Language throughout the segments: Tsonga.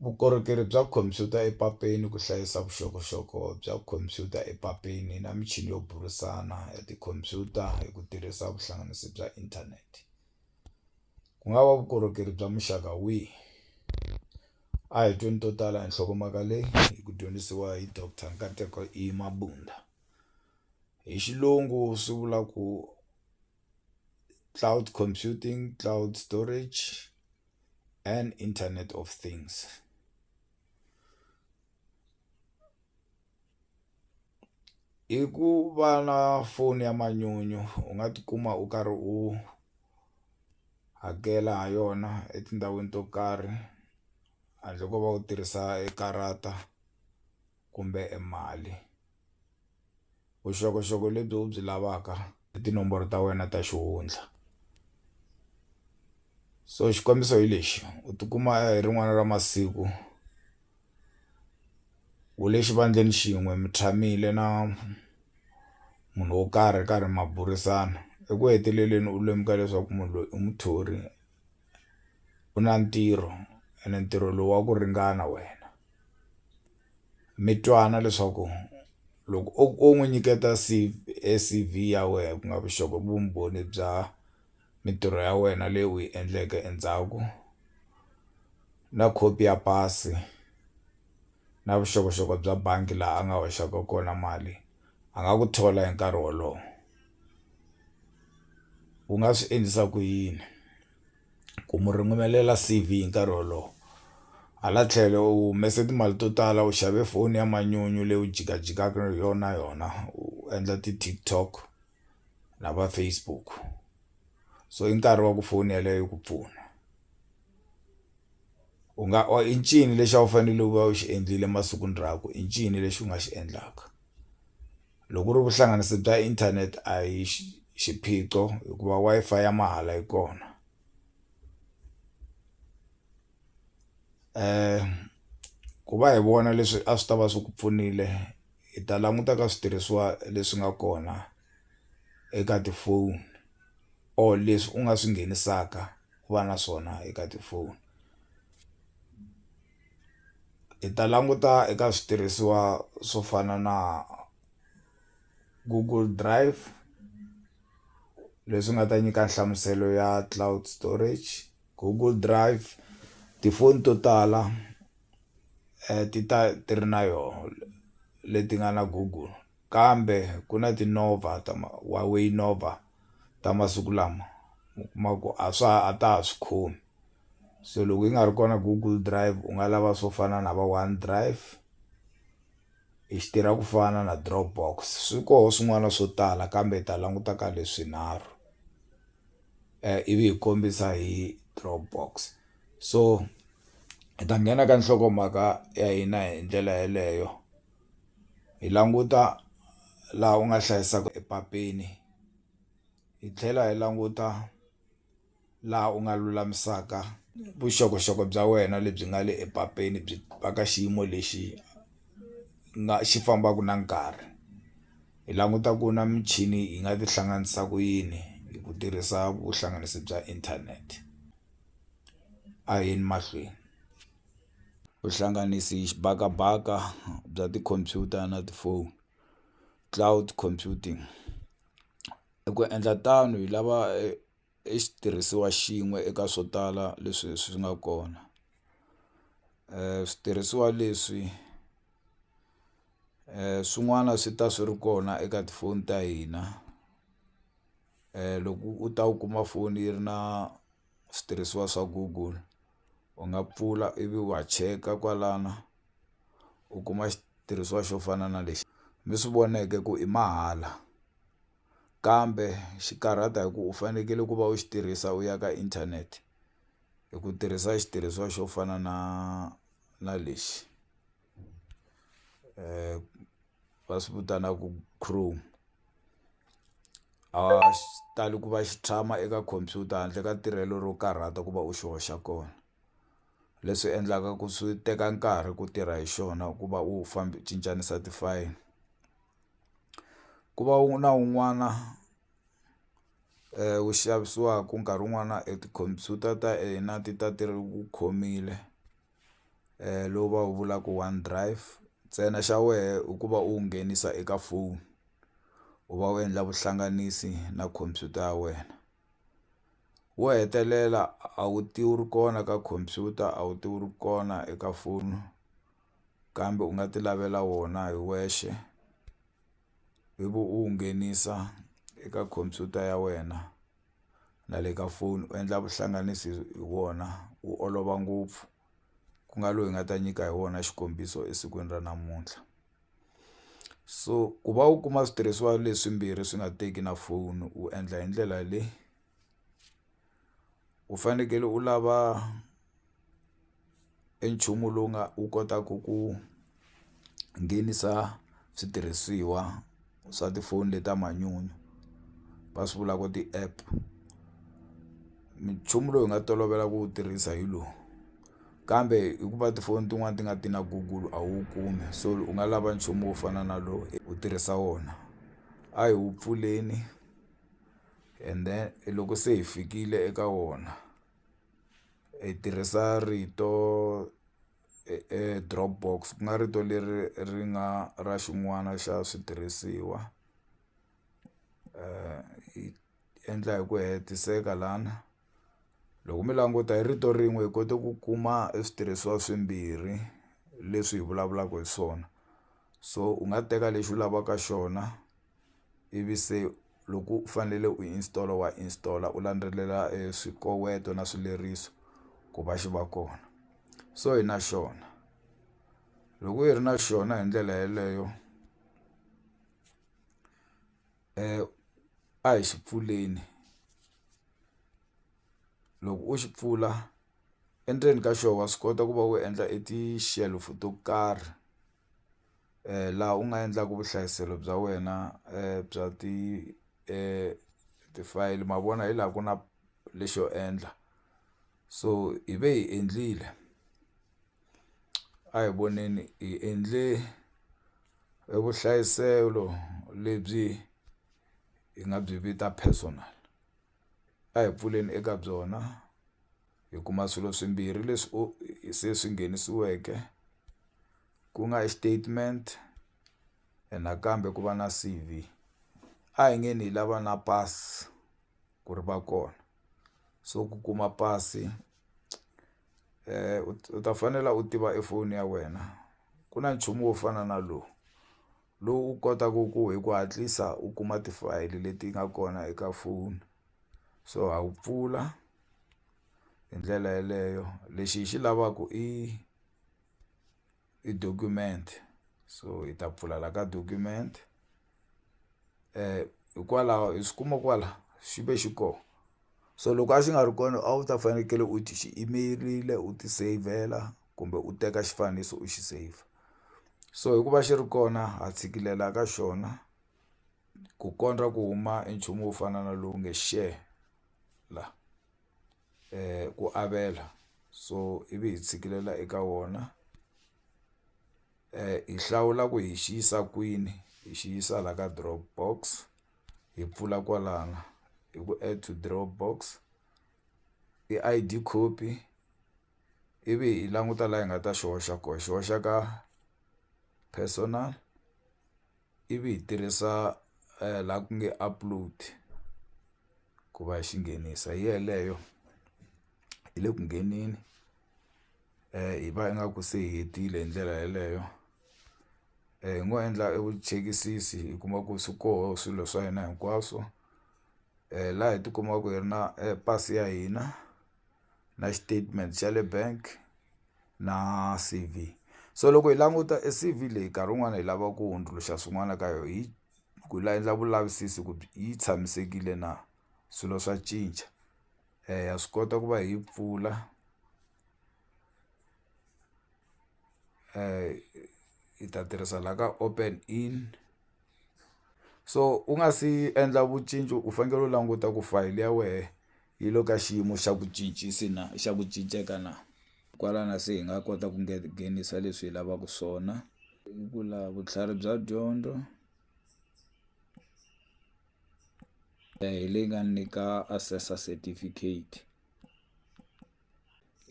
Vukorhokeri bya khomphyuta epapeni ku hlayisa vuxokoxoko bya khomphyuta epapeni na michini yo burisana ya tikhomphyuta hi ku tirhisa vuhlanganisi bya inthanete ku nga va vukorhokeri bya muxaka wihi a hi tweni to tala hi nhlokomhaka leyi hi ku dyondzisiwa hi doctor Nkateko E Mabunda hi xilungu swi vula ku. cloud computing, cloud storage and internet of things. hi ku va na foni ya manyunyu u nga tikuma u karhi u hakela ha yona etindhawini to karhi handle ko va u tirhisa e karata. kumbe e mali vuxokoxoko lebyi u byi lavaka i tinomboro ta wena ta xihundla so xikombiso hi lexi u tikuma hi rin'wana ra masiku u le xivandleni xin'we mi tshamile na munhu wo karhi karhi ma burisana eku heteleleni u lemuka leswaku munhu loyi i muthori u na ntirho ene ntirho lowu wa ku ringana wena mi twana leswaku loko o o n'wi nyiketa se C_V ya wena ku nga vuxokoxoko vumbhoni bya mintirho ya wena leyi u yi endleke endzhaku na khopi ya pasi na vuxokoxoko bya bangi laha a nga hoxaka kona mali. a nga ku thola hi nkarhi wolowo u nga swi endlisa ku yini ku mu ringanelela C_V hi nkarhi wolowo hala tlhelo u humese timali to tala u xave foni ya manyunyu leyi u jikajikaka hi yona yona u endla ti-TikTok. na va Facebook so i nkarhi wa ku foni yeleyo yi ku pfuna u nga or i ncini lexi a wu fanele u va u xi endlile masikwini rakwe i ncini lexi u nga xi endlaka loko ku ri vuhlanganisi bya inthanete a hi xiphiqo hikuva Wi-Fi ya mahala yi kona. ku va hi vona leswi a swi ta va swi ku pfunile hi ta languta ka switirhisiwa leswi nga kona eka tifoni or leswi u nga swi nghenisaka ku va na swona eka tifoni hi ta languta eka switirhisiwa swo fana na Google drive leswi nga ta nyika nhlamuselo ya cloud storage. Google Drive tifoni to tala ti ta ti ri na yona leti nga na Google kambe ku na tinova ta ma Huawei Nova ta masiku lama u kuma ku a swa ha a ta ha swi khomi se loko yi nga ri kona Google Drive u nga lava swo fana na va One Drive i xi tirha ku fana na Drop box swi koho swin'wana swo tala kambe hi ta languta ka leswinharhu. eh, ivi hi kombisa hi dropbox so hi ta nghena ka nhlokomhaka ya hina hi ndlela yeleyo hi languta laha u nga hlayisaka epapeni hi tlhela hi languta laha u nga lulamisaka vuxokoxoko bya wena lebyi nga le epapeni byi va ka xiyimo lexi nga xi fambaka na nkarhi Hi languta ku na michini yi nga tihlanganisa ku yini hi ku tirhisa vuhlanganisi bya inthanete a hi yeni mahlweni vuhlanganisi xibakabaka bya tikhompyuta na tifoni cloud computing i ku endla tano hi lava i xitirhisiwa xin'we eka swo tala leswi swi nga kona switirhisiwa leswi. swin'wana swi ta swi ri kona eka tifoni ta hina loko u ta u kuma foni yi ri na switirhisiwa swa google u nga pfula ivi wa cheka kwalana u kuma xitirhisiwa xo fana na lexi mi swi voneke ku i mahala kambe xi karhata hi ku u fanekele ku va u xi tirhisa u ya ka inthanete hi ku tirhisa xitirhisiwa xo fana na. na lexi va swi vitanaka chrome a xi tali ku va xi tshama eka khompyuta handle ka tirhelo ro karhata ku va u xi hoxa kona leswi endlaka ku swi teka nkarhi ku tirha hi xona ku va u cincanisa ti-file ku va u na un'wana. wu xavisiwaka nkarhi wun'wana e tikhompyuta ta hina ti ta ti ri ku khomile lowu va wu vulaka one drive ntsena xa wehe i ku va u wu nghenisa eka foni u va u endla vuhlanganisi na khompyuta ya wena wo hetelela a wu ti wu ri kona ka khompyuta a wu ti wu ri kona eka foni kambe u nga ti lavela wona hi wexe. ivi u wu nghenisa eka khompyuta ya wena na le ka foni u endla vuhlanganisi hi wona wu olova ngopfu ku nga loyi hi nga ta nyika hi wona xikombiso esikwini ra namuntlha so ku va u kuma switirhisiwa leswimbirhi swi nga teki na foni u endla hi ndlela leyi. u fanekele u lava e nchumu lowu nga wu kotaku ku nghenisa switirhisiwa swa tifoni le ta manyunyu va swi vula ku ti-app nchumu lowu hi nga tolovela ku wu tirhisa hi lowu kambe hikuva tifoni tin'wani ti nga ti na Google a wu wu kumi so u nga lava nchumu wo fana na lowu u tirhisa wona a hi wu pfuleni. and then i loko se hi fikile eka wona hi tirhisa rito drop box ku nga rito leri ri nga ra xin'wana xa switirhisiwa hi endla hi ku hetiseka lana loko mi languta hi rito rin'we hi kote ku kuma e switirhisiwa swimbirhi leswi hi vulavulaka hi swona so u nga teka lexi u lavaka xona. ivi se loko u fanele u installer wa installer u landzelela swikoweto na swileriso ku va xi va kona so hi na xona loko hi ri na xona hi ndlela yeleyo a hi xi pfuleni loko u xi pfula endzeni ka xona wa swi kota ku va u endla e ti-shelf-o to karhi. laha u nga endlaka vuhlayiselo bya wena bya ti ti-file ma vona hi laha ku na lexo endla so hi ve hi endlile a hi voneni hi endle e vuhlayiselo lebyi hi nga byi vita personal a hi pfuleni eka byona. hi kuma swilo swimbirhi leswi u se swi nghenisiweke ku nga i statement and nakambe ku va na C_V a hi nge ni hi lava na pasi ku ri va kona so ku kuma pasi u ta fanela u tiva i foni ya wena ku na nchumu wo fana na lowu lowu u kotaku ku hi ku hatlisa u kuma ti-file leti nga kona eka foni. so ha wu pfula hi ndlela yeleyo lexi hi xi lavaku i i document so hi ta pfula la ka document hikwalaho hi swi kuma kwala xi ve xi ko so loko a xi nga ri kona a wu ta fanekele u ti xi imerile u ti seyivhela kumbe u teka xifaniso u xi saver so hikuva xi ri kona ha tshikilela ka xona. ku kondza ku huma i nchumu wo fana na lowu nge share la ku avela so ivi hi tshikilela eka wona hi hlawula ku hi xi yisa kwini hi xi yisa la ka drop box hi pfula kwalano hi ku add to drop box i I_D copy ivi hi languta laha hi nga ta xi hoxa kona hi xi hoxa ka personal. ivi hi tirhisa laha ku nge upload ku va hi xi nghenisa hi yeleyo hi le ku ngheneni hi va ingaku se hi hetile hi ndlela yeleyo hi ngo endla e vuchekisisi hi kuma ku swi koho swilo swa hina hinkwaswo laha hi tikumaka hi ri na pasi ya hina. na statement xa le bank na C_V so loko hi languta e C_V leyi nkarhi wun'wani hi lava ku hundzuluxa swin'wana ka yo hi ku la endla vulavisisi ku yi tshamisekile na swilo swa cinca ha swi kota ku va hi yi pfula hi ta tirhisa la ka open in. so u nga si endla u fanekele u languta ku fayili ya wehe yi le ka xiyimo xa ku na xa ku cinceke na kwalano se hi nga kota ku nghenisa leswi hi lavaka swona i ku lava vutlhari bya dyondzo hi leyi nga ni nyika assessor certificate.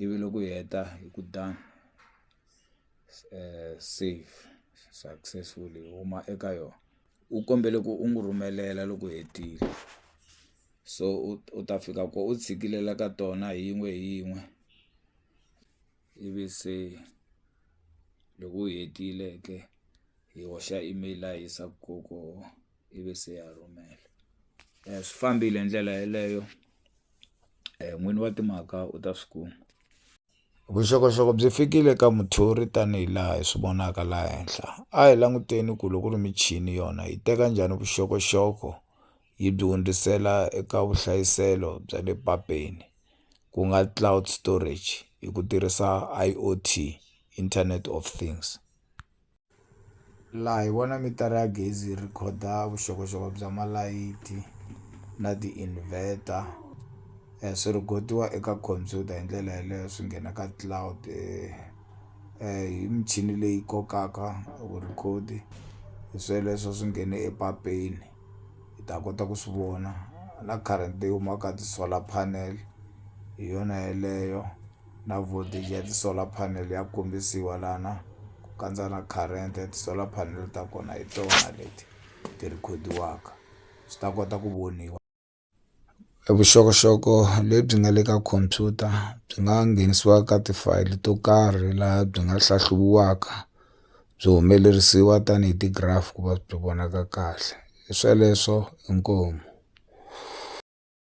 ivi loko u heta hi ku done save successfully hi huma eka yona u kombele ku u n'wi rhumelela loko u hetile so u u ta fika ko u tshikilela ka tona hi yin'we hi yin'we ivi se loko u hetile ke hi hoxa email laha hi yisaka koho. ivi se ya rhumela swi fambile hi ndlela yeleyo n'wini wa timhaka u ta swi kuma vuxokoxoko byi fikile ka muthori tanihi laha hi swi vonaka laha henhla a hi languteni ku loko ri michini yona yi teka njhani vuxokoxoko yi byi hundzisela eka vuhlayiselo bya le papeni ku nga cloud storage hi ku tirhisa I_O_T internet of things. Laha hi vona mitara ya gezi yi rhekhoda vuxokoxoko bya malayithi na ti-inverter swi rhikhodiwa eka khompyuta hi ndlela yaleyo swi nghena ka cloud hi michini leyi kokaka vu-record hi sweleswo swi nghene epapeni hi ta kota ku swi vona na current leyi humaka ka ti-solar panel hi yona yeleyo. na voltage ya ti-solar panel ya kombisiwa lana ku kandza na current ya ti-solar panel ta kona hi tona leti ti rhikhodiwaka swi ta kota ku voniwa vuxokoxoko lebyi nga le ka computer byi nga nghenisiwa ka tifayili to karhi laha byi nga hlahluviwaka byi humelerisiwa tanihi ti-graph ku va byi vonaka kahle hi sweleswo inkomu.